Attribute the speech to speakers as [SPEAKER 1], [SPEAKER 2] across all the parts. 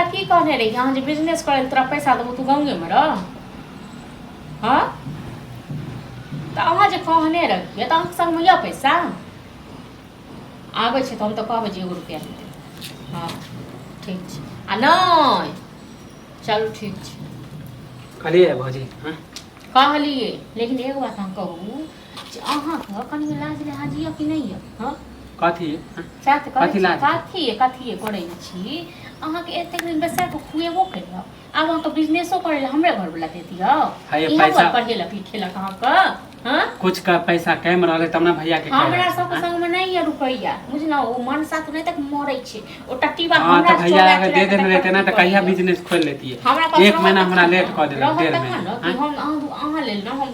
[SPEAKER 1] की कहने रही अहाँ जे बिजनेस करै तोरा पैसा देबौ तू गाँवेमे रह हँ तऽ अहाँ जे कहने रहियै तऽ अहाँके सङ्गमे यऽ पैसा आबै छै तऽ हम तऽ कहबै जे एगो रुपैआ नहि देबै हँ ठीक छै आ नहि चलू ठीक छै कहलियै
[SPEAKER 2] भौजी हँ कहलियै
[SPEAKER 1] लेकिन एगो बात अहाँ कहू अहाँके कनि लाज लिहाज यऽ कि नहि यऽ हँ
[SPEAKER 2] कथी
[SPEAKER 1] सएह तऽ कथी करै छी
[SPEAKER 2] लाज? कथी कथी
[SPEAKER 1] करै छी अहाँके एतेक दिन बैसा कऽ खुएबो केलहुँ आब अहाँके बिजनेसो करै लए हमरे घरवला दे दियौ है ये इएह पैसा- दुआरे पढ़ेलक लिखेलक अहाँके हँ कुछ का पैसा
[SPEAKER 2] कैम रहले तब ना भैया के हमरा कहले। सबके संग मे नहि
[SPEAKER 1] यऽ रुपैआ बुझलहुँ ओ मन साथ नहि तक मरै छै ओ टट्टीबा हाँ हमरा तो भैया चोरा- अगर चोरा
[SPEAKER 2] दे के
[SPEAKER 1] देने
[SPEAKER 2] रहते ना तो तक कहिया पढ़ेलक। बिजनेस खोल लेती हमरा पास एक रहत महीना हमरा तखन लेट ने, कऽ देलक रहत डेढ़ तखन महीना ने कि हाँ? हम अहाँ अहाँ लेल
[SPEAKER 1] ने हम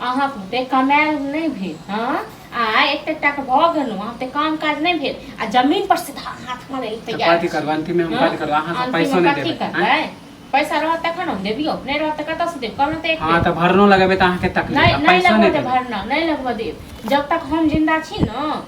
[SPEAKER 2] अहाँ
[SPEAKER 1] बेकमायल नहि भेल हँ आ एते तक भऽ गेलहुँ अहाँ तऽ काम काज नहि भेल आ जमीन पर सीधा हाथ मारे लए तैयार कथी करबै अंतिमे हम कथी
[SPEAKER 2] करबै अहाँ सब पैसो नहि देबै करबै पैसा रहत
[SPEAKER 1] तखन हम देबियो नहि रहत तऽ कतऽ से देब कहलहुँ तऽ एक हँ तऽ भरनो लगेबै तऽ
[SPEAKER 2] अहाँके तकलीफ नहि नहि लगबऽ देब भरना
[SPEAKER 1] नहि लगबऽ देब जब तक हम जिन्दा छी ने